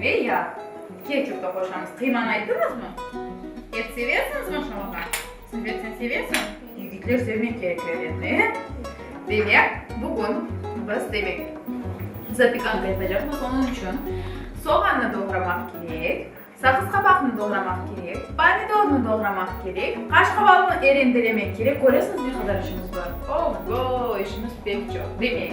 Ve ya ketçup da qoşamız. Qıymanı ayttıñızmı? Et seversiñiz maşallaha? Severseñ, severseñ. Yigitler sevmek kerek erini. Demek, bugün biz demek, zapikanka yapacaqmız. Onıñ içün soğannı doğramaq kerek, saqız qabaqnı doğramaq kerek, pomidornı doğramaq kerek, qaşqavalnı e rendelemek kerek. Köresiñiz, ne qadar işimiz bar? Oho, işimiz pek çoq. Demek.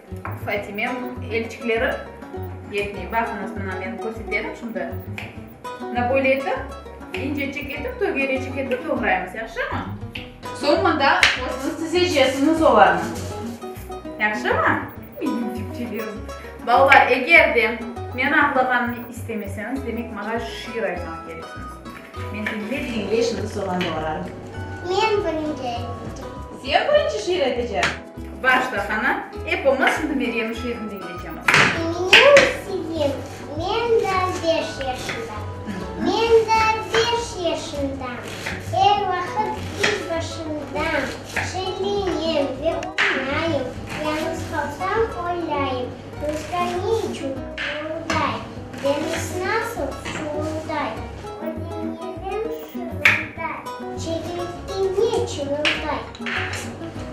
Fatime elçikleri yetmey. Baqıñız, mına men körseterim şimdi. Mına böyle etip, incecik etip, tögerecik etip doğraymız, yahşımı? Soñ mında özüñiz tizecesiñiz olarnı. Yahşımı? Menim cübcelerim. Balalar, eger de men ağlağanımnı istemeseñiz, demek, maña şiir aytmağa keresiñiz. Men diñley-diñley şimdi soğan doğrarım. Men birinci aytacam. Sen birinci şiir aytacañ? Başla, Hana. Epimiz şimdi Meryemniñ şiirini diñletemiz. Menim isivim, men da beş yaşında. Men da beş yaşındam. Er vaqıt iz başındam. Şellenem ve oynayım. Yañız qalsam, oylayım. Ruzga ne içün ğırılday? Deñiz nasıl şuvulday? Ödeñevim şırılday. Çekilikke ne çırılday?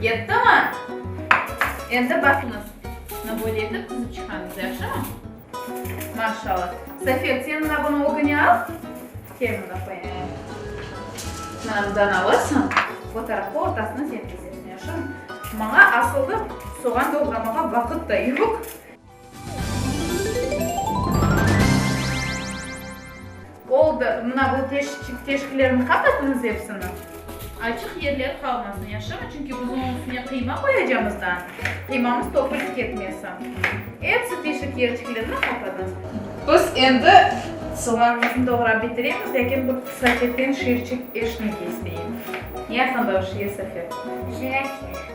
Yettimı? Endi baqıñız, ne böyle etip tizip çıqañız, yahşımı? Maşallah. Safet, sen mına bunı ögüne al. Kel mına qoyayım. Mına bundan alırsıñ, bu tarafqa ortasına sen kesesiñ, yahşımı? Maña asıl da soğan doğramağa vaqıt da yoq. Oldı, mına bu teşkilerni qapatınız epsini. Açıq yerler qalmasın, yaşımı? Çünki biz onıñ üstüne qıyma qoyacamız da, qıymamız topulip ketmesin. Epsi teşik yerçiklerini qapatınız. Biz endi soğanımıznı doğrap bitiremiz, lâkin bu Safetden şiirçik eşitmek isteyim. Ne aqqında o şiir, Safet? Jirafiya.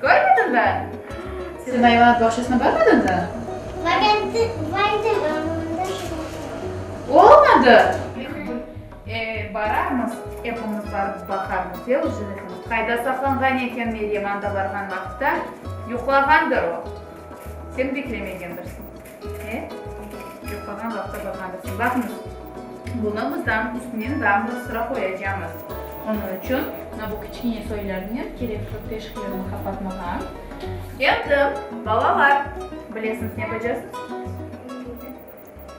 Körmedin be? Senin ayvanat bağçasını körmedin be? Variantı vardı, amma onda şular yoq. Olmadı! Lih bir e, bararmız, epimiz barıp baqarmız, e, o jiletimiz qayda saqlanğan eken? Meryem anda barğan vaqıtta yuqlağandır o, sen beklemegendirsiñ. İşte, çoq olğan vaqıtta baqarsıñ. Baqıñız, bunı bızam üstünen dağ bir sıra qoyacamız. Onıñ içün mına bu kiçkene soylarnen kerek çoq teşiklerni qapatmağa. Endi, balalar, bilesiñiz, ne yapacaqsıñız?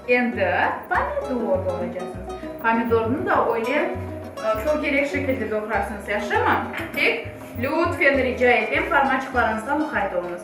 Endi pomidor doğraycaqsıñız. Pomidornı da öyle çoq kerek şekilde doğrarsıñız, yahşımı? Tek, lütfen, rica etem, parmaçıqlarıñızğa muqayt oluñız.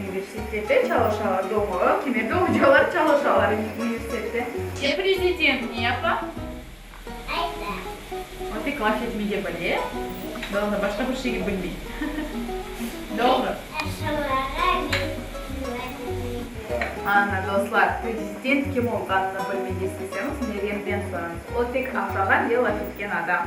Universitette çalışalar, doğmalar kime de ocalar çalışalar universitette. Sen prezident ne yapa? Ayta. O tek laf etmege bile, doğru, başqa bir şeyge bilmey. Doğru. Aşağılarğa lütfen bildiriniz. Ana, dostlar, prezident kim olğanını bilmege isteseñiz, Meryemden sorañız. O tek aşağılar ya laf etken adam.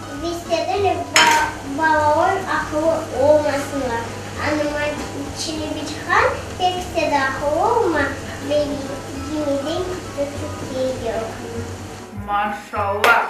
Vestedeler balalar aqıllı olmasınlar. Anıman Çelebichan, Pekse de aqıllı olma, beni gemiden kitti Türkiye yırğını. Maşallah!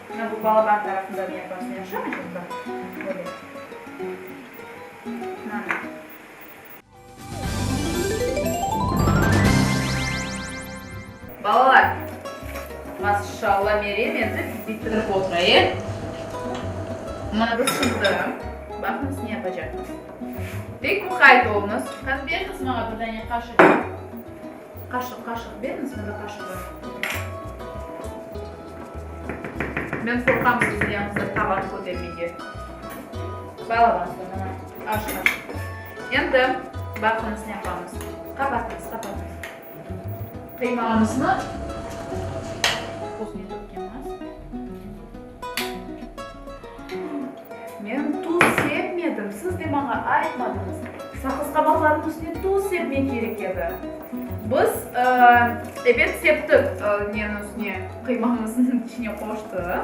Mına bu balaban tarafında bir yapasını yapışam edim, bak, böyle. Mına. Balalar, maşşalla, Meryem endi bitirip otura, e? Mına bir sızdırım, baqıñız, ne yapacaqmız. Pek muqayt oluñız. Qani, beriñiz maña bir dane qaşık. Qaşıq, qaşıq beriñiz mına qaşığı. Men qorqam sizni yañızda taban kötermege. Bağlamasına mına aş qaşıq. Endi baqıñız ne yapamız. Qapatıñız, qapatıñız. Qıymamıznı. Men tuz sepmedim, siz de maña aytmadınız. Saqızqabaqlarnıñ üstüne tuz sepmek kerek edi. Biz, ebet, septik, neniñ üstüne, qıymanıñ içine qoştıq.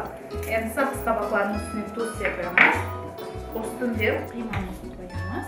Endi saqızqabaqlarnıñ üstüne tuz sepemiz, üstünden qıymanıñ qoyamız.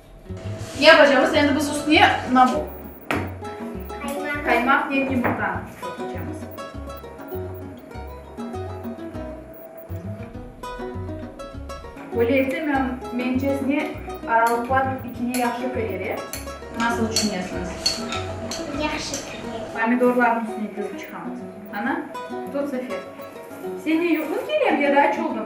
Ne yapacamız? Endi biz üstüne na bu? Qaymaq ve yumurtanı tökecemiz. Böyle etse, mencesine aralıqlar ikine yahşı kirere. Nasıl tüşünesiñiz? Yahşı kirere. Pomidorlarnıñ üstüne tökip çıqamız. Ana, tut, Zafir. Señe yuquñ kelemdi ya da aç oldunı?